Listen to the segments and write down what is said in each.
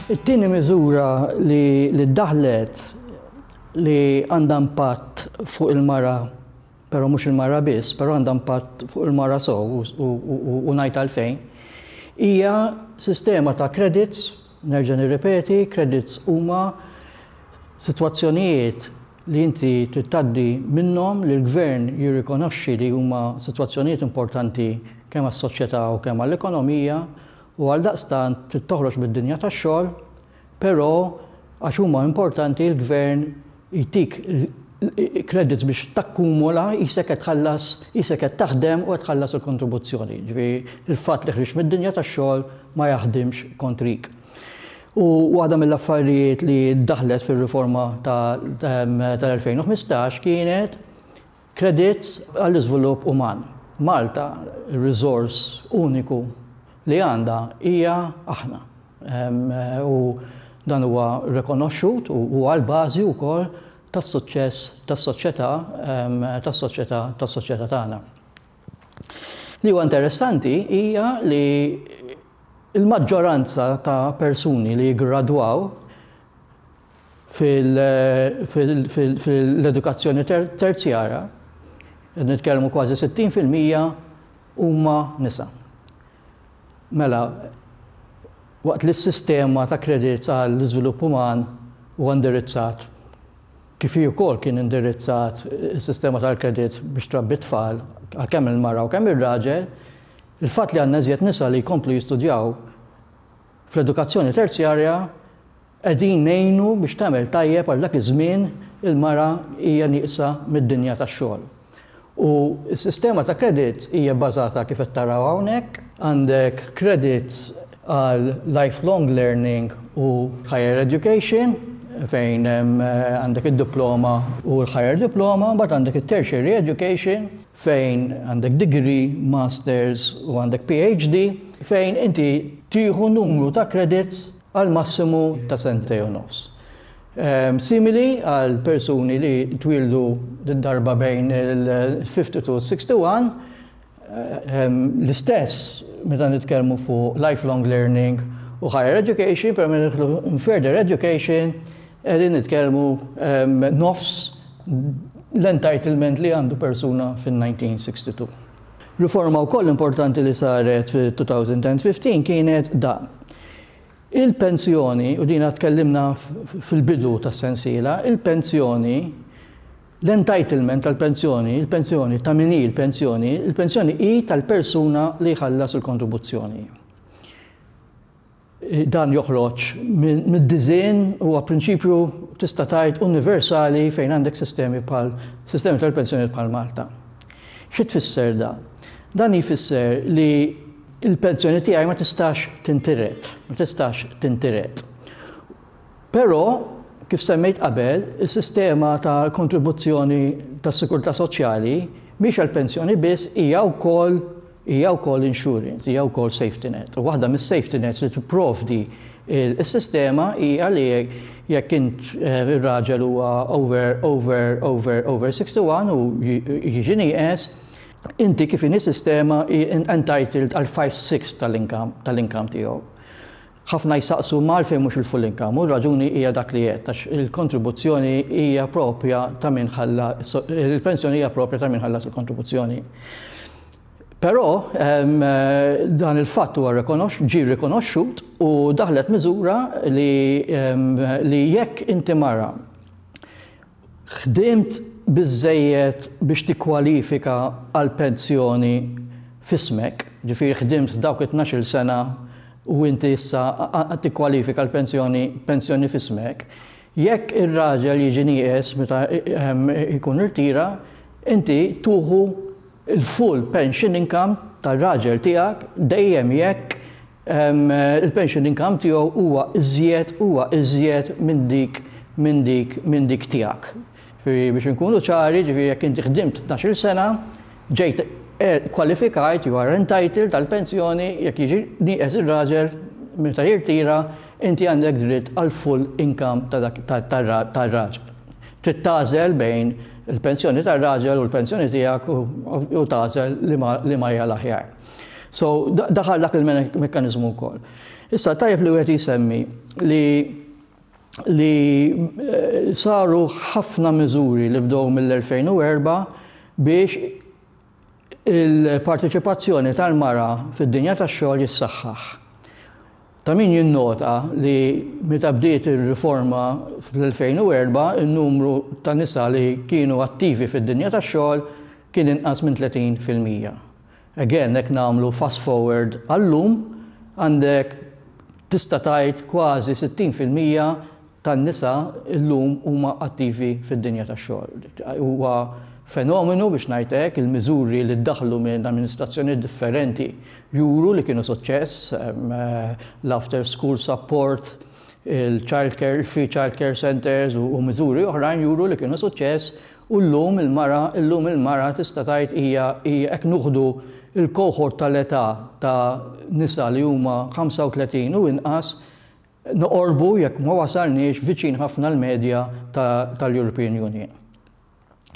It-tieni miżura li ddaħħlet li għandha impatt fuq il-mara, però mhux il-mara biss, però għandha impatt fuq il-mara sew u ngħid għalfejn, hija sistema ta' credits Nerġa' nirrepeti, credits huma sitwazzjonijiet li inti trid tgħaddi minnhom li l-gvern jirrikonoxxi li huma sitwazzjonijiet importanti kemm għas-soċjetà u kemm għall-ekonomija u għaldaqstant trid toħroġ mid-dinja tax-xogħol, però għax huma importanti l-gvern jtik l-credits biex takkumula qisek qed tħallas, qisek qed taħdem u qed tħallas il-kontribuzzjoni. Jiġifieri l-fatt li ħriġt mid-dinja tax-xogħol ma jaħdimx kontrik. U waħda mill-affarijiet li daħlet fir-riforma tal-2015 kienet Credits għall-iżvilupp uman. Malta, ir-riżors uniku li għandha hija aħna. U dan huwa rrikonoxxut u huwa l-bażi wkoll tas-suċċess tas-soċjetà tas-soċjetà tas-soċjetà tagħna. Li huwa interessanti hija li l-maġġoranza ta' persuni li jiggradwaw, Fil-edukazzjoni terzjara, qed nitkellmu kważi 60 fil-mija huma nisa. Mela, waqt li s-sistema ta' kredits għall-iżvilupp uman huwa indirizzat, kif hi wkoll kien indirizzat is-sistema tal-kredits biex trabbi t-tfal għal kemm il-mara u kemm ir-raġel, il-fatt li għandna iżjed nisa li jkomplu jistudjaw fl-edukazzjoni terzjarja Qegħdin ngħinu biex tagħmel tajjeb għal dak iż-żmien il-mara hija nieqsa mid-dinja tax-xogħol. U s-sistema ta' credits hija bbażata kif qed taraw hawnhekk. Għandek credits għal lifelong learning u higher education fejn għandek id-diploma u l-higher diploma, mbagħad għandek it-tertiary education fejn għandek degree, masters u għandek PhD fejn inti tieħu numru ta' credits għal massimu ta' sentejn u nofs. Simili għal persuni li twieldu darba bejn il-52 u s-61, l-istess meta nitkellmu fuq lifelong learning u higher education, però meta nidħlu f'further education qegħdin nitkellmu nofs l-entitlement li għandu persuna fin-1962. Riforma wkoll importanti li saret fil-2015 kienet dan. Il-pensjoni, u din għad tkellimna fil-bidu tas-sensiela, il-pensjoni, l-entitlement tal-pensjoni, il-pensjoni ta' min hi l-pensjoni, il-pensjoni hi tal-persuna li jħallas il-kontribuzzjoni. Dan joħroġ mid-disinn, huwa prinċipju tista' tgħid universali fejn għandek sistemi bħal sistemi tal-pensjonijiet bħal Malta. Xi tfisser dan? Dan jfisser li l-pensjoni tiegħi ma tistax tintiret, ma tistax tintiret. Però, kif semmejt qabel, is-sistema ta' kontribuzzjoni tas-sikurtà soċjali mhix għall-pensjoni biss, hija wkoll Hija wkoll insurance, hija wkoll safety net. U waħda mis-safety nets li tipprovdi s-sistema hija li jekk int ir-raġel huwa over over over over 61 u jiġi nieqes, inti kif inhi sistema hi entitled għal five sixths tal-income tal-income tiegħu. Ħafna jsaqsu ma għalfejn mhux il-full income u r-raġuni hija dak li għedt għax il-kontribuzzjoni hija proprja ta' min ħalla il-pensjoni hija proprja ta' min ħallas il-kontribuzzjoni. Però dan il-fatt huwa rrikonoxx ġie rrikonoxxut u daħlet miżura li li jekk inti mara Ħdimt biżżejjed biex tikkwalifika għall-pensjoni f'ismek, jiġifieri ħdimt f'dawk it-tnax-il sena u inti issa qed tikkwalifika għal pensjoni pensjoni f'ismek. Jekk ir-raġel jiġi nieqes meta jkun irtira, inti tuħu l-full pension income tar-raġel tiegħek dejjem jekk il-pension income tiegħu huwa iżjed huwa iżjed minn dik minn dik minn dik tiegħek. Ġifieri biex inkunu ċari, ġifieri jekk inti ħdimt tnax-il sena, ġejt qualified, you are entitled għal pensjoni, jekk jiġi nieqes ir-raġel meta jirtira, inti għandek dritt għall-full income ta' dak tar-raġel. Trid tagħżel bejn il-pensjoni tar-raġel u l-pensjoni tiegħek u tagħżel liema hija l-aħjar. So, daħal dak il-mekkaniżmu wkoll. Issa tajjeb li wieħed jisemmi li li eh, saru ħafna miżuri li bdew mill-2004 biex il-parteċipazzjoni tal-mara fid-dinja tax-xogħol jissaħħaħ. Ta' min jinnota li meta bdiet ir-riforma fl-2004 in-numru ta' nisa li kienu attivi fid-dinja tax-xogħol kien inqas minn 30 fil-mija. Again jekk nagħmlu fast forward għal-lum, għandek tista' tgħid kważi 60 fil-mija tan-nisa llum huma attivi fid-dinja tax-xogħol. Huwa fenomenu biex ngħid hekk, il-miżuri li ddaħħlu minn amministrazzjonijiet differenti juru li kienu suċċess, l-after school support, il-child care, il-free child care centres u miżuri oħrajn juru li kienu suċċess U llum il-mara, illum il-mara tista' tgħid hija, hija jekk nuħdu l-cohort tal-età ta' nisa li huma 35 u inqas, noqorbu, jekk ma wasalniex, viċin ħafna l-medja ta' tal-European Union.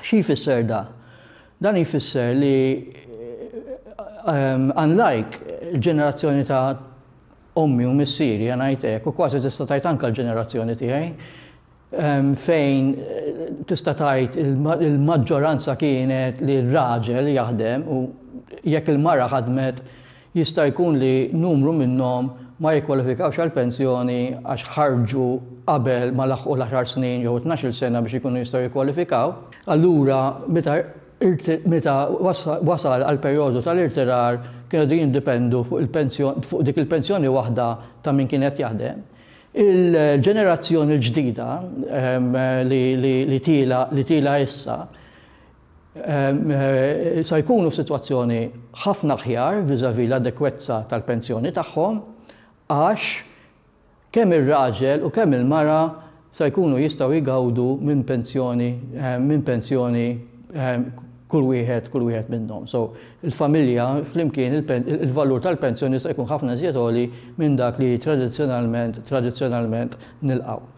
Xi jfisser da? Dan jfisser li unlike il-ġenerazzjoni ta' ommi u missieri, ħa ngħid hekk, u kważi tista' tgħid anke l-ġenerazzjoni tiegħi, fejn tista' tgħid il-maġġoranza kienet li r-raġel jaħdem u jekk il-mara ħadmet jista' jkun li numru minnhom ma jikkwalifikawx għall-pensjoni għax ħarġu qabel ma laħqu l-għaxar snin jew it-tnax-il sena biex ikunu jistgħu jikkwalifikaw. Allura meta meta wasal għall-perjodu tal-irtirar kienu qegħdin jiddipendu fuq dik il-pensjoni waħda ta' min kien qed jaħdem. Il-ġenerazzjoni l-ġdida li tiela' issa se jkunu f'sitwazzjoni ħafna aħjar vis-à-vis l-adekwezza tal-pensjoni tagħhom għax kemm ir-raġel u kemm il-mara se jkunu jistgħu jgawdu minn pensjoni kull wieħed kull wieħed minnhom. So, il-familja flimkien il-valur tal-pensjoni jista' jkun ħafna żjed għoli minn dak li tradizzjonalment tradizzjonalment nilqgħu.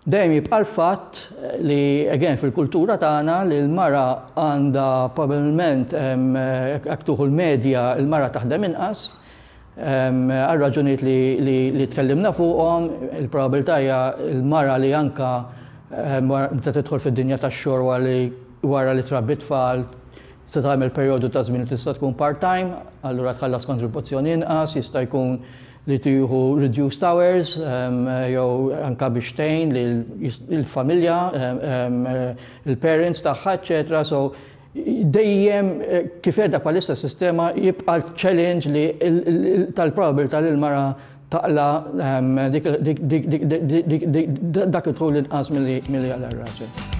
Dejjem jibqa' l-fatt li again fil-kultura tagħna li l-mara għandha probabbilment hekk tuħu l-medja l-mara taħdem inqas Għar-raġunijiet li tkellimna fuqhom, il-probabilità hija l-mara li anke meta tidħol fid-dinja tax-xogħol wara li trabbi t-tfal se tagħmel perjodu ta' żmien li tista' tkun part-time, allura tħallas kontribuzzjoni inqas, jista' jkun li tieħu reduced hours jew anke biex tgħin lill-familja, il-parents tagħha, eċċetera. Dejjem kif qiegħda bħalissa s-sistema jibqa' ċ-challenge li tal-probabilità li l-mara taqla' dak id-dħul inqas milli jaqla' r-raġel.